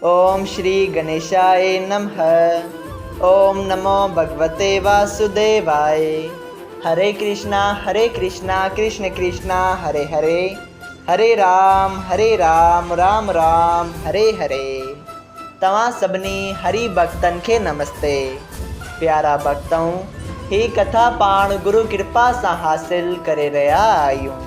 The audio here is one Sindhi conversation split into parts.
اوم شري گنيشائي نمه اوم نمو ڀڳوتي واسوديوائي هري ڪرشنا هري ڪرشنا ڪرشن ڪرشنا هري هري هري رام هري رام رام رام هري هري توهان سڀني هري ڀڳتن کي نمستي پيارا ڀڳتؤ هي ڪٿا پاڻ گرو ڪرپا سان حاصل ڪري رهيا آهيون.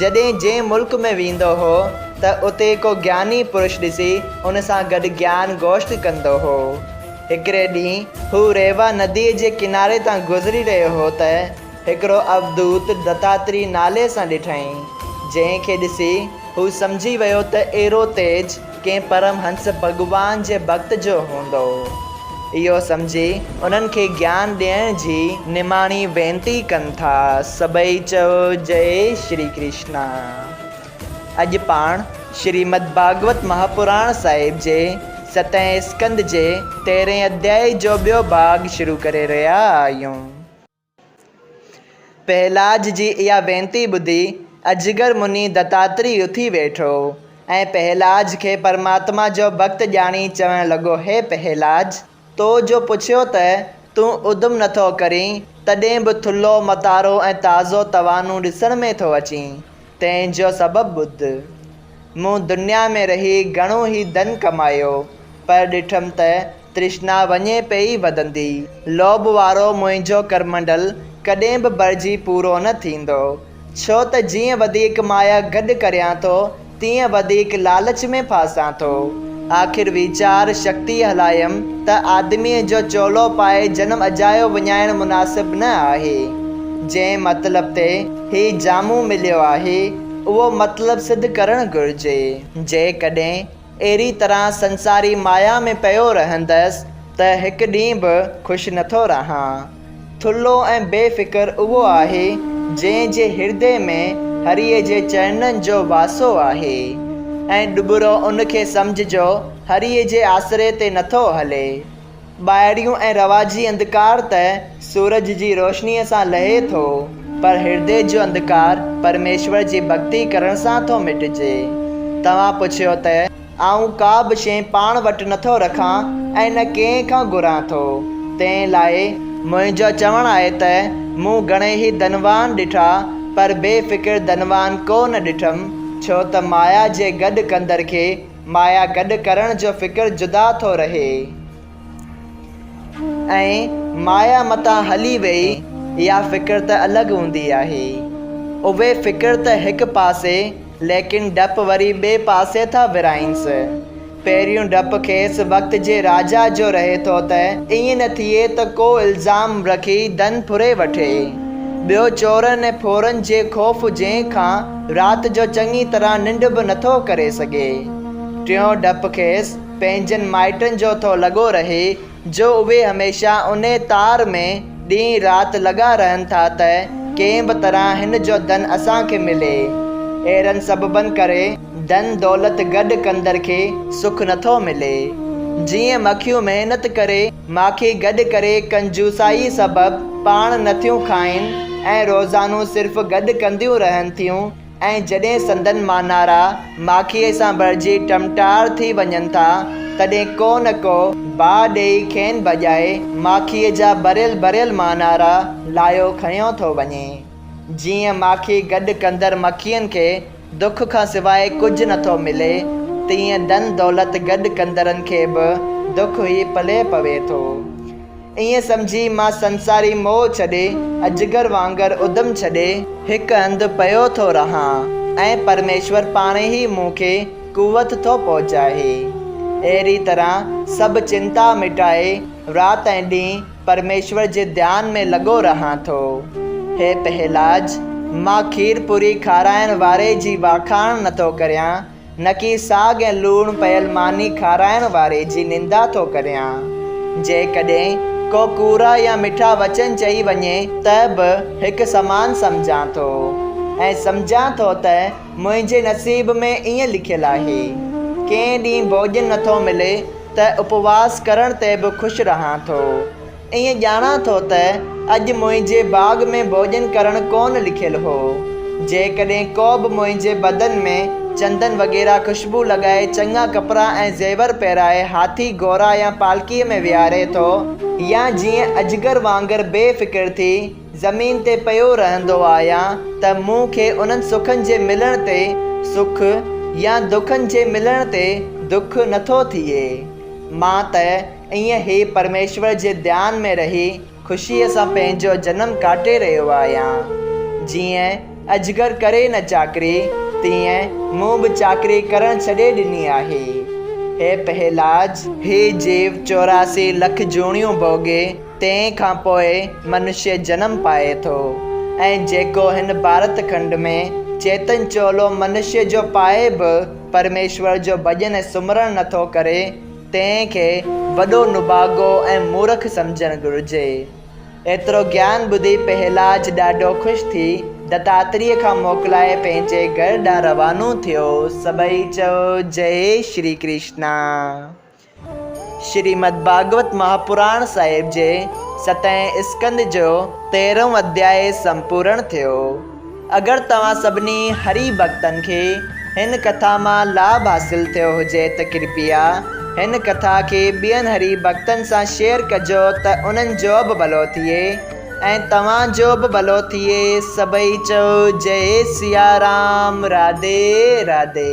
جڏهن جنهن ملڪ ۾ ويندو هو ته اتي ڪو گياني پرش ڏسي ان سان گڏ گيان گوشت ڪندو هو. هڪڙي ڏينهن هو ريوا نديء جي ڪناري تان گذري رهيو هو ته هڪڙو اوڌوت دتاتري نالي سان ڏٺائين، جنهن کي ڏسي هو سمجهي ويو ته ايرو تيج، ڪنهن پرم هنس ڀڳوان جي ڀڳت جو هوندو، اهو سمجهي انهن کي گيان ڏيڻ جي نماڻي وينتي ڪن ٿا. سڀئي چئو جئي شري ڪرشنا. اڄ پاڻ شريمد ڀاڳوت مهاپراڻ صاحب جي ستين اسڪند جي تيرهين اڌيائي جو ٻيو ڀاڳ شروع ڪري رهيا آهيون. پهلاج جي اها وينتي ٻڌي اجگر مني دتاتري اٿي ويٺو ۽ پهلاج کي پرماتما جو ڀڳت ڄاڻي چوڻ لڳو هي پهلاج! تو جو پڇيو ته تون ادم نٿو ڪرين تڏهن به ٿلهو متارو ۽ تازو توانو ڏسڻ ۾ ٿو اچين تنهن جو سبب ٻڌ. مون دنيا ۾ رهي گهڻو ئي ڌن ڪمايو پر ڏٺم ته ترشنا وڃي پئي وڌندي. لوڀ وارو منهنجو ڪرمنڊل ڪڏهن به ڀرجي پورو نه ٿيندو. ڇو ته جيئن وڌيڪ مايا گڏ ڪريان ٿو، تيئن وڌيڪ لالچ ۾ ڦاسان ٿو. آخر ويچار شڪتيء هلايم ته آدميء جو چولو پائي جنم اجايو وڃائڻ مناسب نه آهي. جنهن مطلب تي هي جامو مليو آهي، اهو مطلب سڌ ڪرڻ گهرجي. جيڪڏهن اهڙي طرح سنساري مايا ۾ پيو رهندس ته هڪ ڏينهن به خوش نٿو رهان. ٿلهو ۽ بي فڪر اهو آهي، جنهن جي هردي ۾ هريء جي چرنن جو واسو آهي ۽ ڏٻرو ان کي سمجهه جو هريء جي آسري تي نٿو هلي. ٻاهريون ۽ رواجي انڌڪار ته سورج جي روشنيء سان لهي ٿو، پر هردي جو انڌڪار پرميشور جي ڀڳتي ڪرڻ سان ٿو مٽجي. توهان پڇيو ته. آئون ڪا به شيء پاڻ وٽ نه ٿو رکان ۽ نه ڪنهن کان گهران ٿو، تنهن لاء. منهنجو چوڻ آهي ته مون گهڻيئي ڌنوان ڏٺا، پر بي فڪر ڌنوان ڪو نه ڏٺم، ڇو ته مايا جي گڏ ڪندڙ کي مايا گڏ ڪرڻ جو فڪر جدا ٿو رهي ۽ مايا متان هلي ويئي اها فڪر ته الڳ هوندي آهي. اهي فڪر ته هڪ پاسي ليڪن ڊپ وري ٻئي پاسي ٿا ورائينس. پهريون ڊپ کيس وقت جي راجا جو رهي ٿو ته ائين نه ٿئي ته ڪو الزام رکي ڌن ڦري وٺي. ٻيو چورن ۽ ڦورن جي خوف جنهن کان رات جو چڱي طرح ننڊ به نٿو ڪري سگهي. ٽيون ڊپ کيس پنهنجن مائٽن جو ٿو لڳو رهي جو اهي هميشه انهي تار ۾ ڏينهن رات لڳا رهن ٿا ته ڪنهن به طرح هن جو ڌن اسان کي ملي. اهڙن سببن ڪري ڌن دولت گڏ ڪندڙ کي سک نٿو ملي. جيئن مکيون محنت ڪري. ماکي گڏ ڪري ڪنجوسائيء سبب پاڻ نٿيون کائين ۽ روزانو صرف گڏ ڪنديون رهن ٿيون ۽ جڏهن سندن مانارا ماکيء سان ڀرجي ٽمٽار ٿي وڃن ٿا، تڏهن ڪو نه ڪو باهه ڏيئي کين ڀڄائي ماکيء جا ڀريل ڀريل مانارا لاهيو کنيو ٿو وڃي، جيئن ماکي گڏ ڪندڙ مکين کي دک کان سواء ڪجهه نه ٿو ملي، تيئن ڌن دولت گڏ ڪندڙن کي به دک ئي پلئه پوي ٿو. ائين سمجهي مان سنساري موهه ڇڏي، اجگر وانگر ادم ڇڏي، هڪ هنڌ پيو ٿو رهان ۽ پرميشور پاڻ ئي مون کي قوت ٿو پهچائي. اهڙي طرح سڀ چنتا مٽائي رات ۽ ڏينهن پرميشور جي ڌيان ۾ لڳو رهان ٿو. هي پهيلاج، مان کير پوري کارائڻ واري جي واکاڻ نٿو ڪريان، نڪي ساڳ ۽ لوڻ پيل ماني کارائڻ واري جي نندا ٿو ڪريان. جيڪڏهن ڪو ڪوڙا يا مٺا وچن چئي وڃي ته به هڪ سمان سمجهان ٿو ۽ سمجهان ٿو ته منهنجي نصيب ۾ ائين لکيل آهي. ڪنهن ڏينهن ڀوڄن نٿو ملي ته اپواس ڪرڻ تي به خوش رهان ٿو. ائين ڄاڻان ٿو ته اڄ منهنجي باغ ۾ ڀوڄن ڪرڻ ڪونه لکيل هو. جيڪڏهن ڪو به منهنجي بدن ۾ چندن وغيره خوشبو لڳائي چڱا ڪپڙا ۽ زيور پهرائي هاٿي، گهوڙا يا پالڪيء ۾ ويهاري ٿو، يا جيئن اجگر وانگر بي فڪر ٿي، زمين تي پيو رهندو آهيان ته مون کي انهن سکن جي ملڻ تي سک يا دکن جي ملڻ تي دک نٿو ٿئي. مان ته ائين هي پرميشور جي ڌيان ۾ رهي خوشيء سان پنهنجو جنم ڪاٽي رهيو آهيان. جيئن اجگر ڪري نه چاڪري، تيئن مون به چاڪري ڪرڻ ڇڏي ڏني آهي. هي پهلاج! هي جيو چوراسي لک جوڻيون ڀوڳي. تنهن کان پوء منشيء جنم پائي ٿو ۽ جيڪو هن ڀارت کنڊ ۾ چيتن چولو منشيء جو پائي به پرميشور جو ڀڄن ۽ سمرڻ نه ٿو ڪري، تنهن کي وڏو نڀاڳو ۽ مورک سمجهڻ گهرجي. ايترو گيان ٻڌي پهلاج ڏاڍو خوش ٿي دتاتريء کان موڪلائي پنهنجي گهر ڏانهن روانو ٿيو. سڀئي چئو، جئي شري ڪرشنا! شريمد ڀاڳوت مهاپراڻ صاحب جي ستين اسڪنڌ جو تيرهون اڌيائي سمپورڻ ٿيو. اگر توهان سڀني هري ڀڳتن کي هن ڪٿا مان لاڀ حاصل ٿيو هجي ته ڪرپيا هن ڪٿا کي ٻين هري ڀڳتن سان شيئر ڪجو ته انهن جو به ڀلو ٿئي ۽ توهان جو به ڀلو ٿئي سڀئي چئو جئي سيارام راڌي راڌي.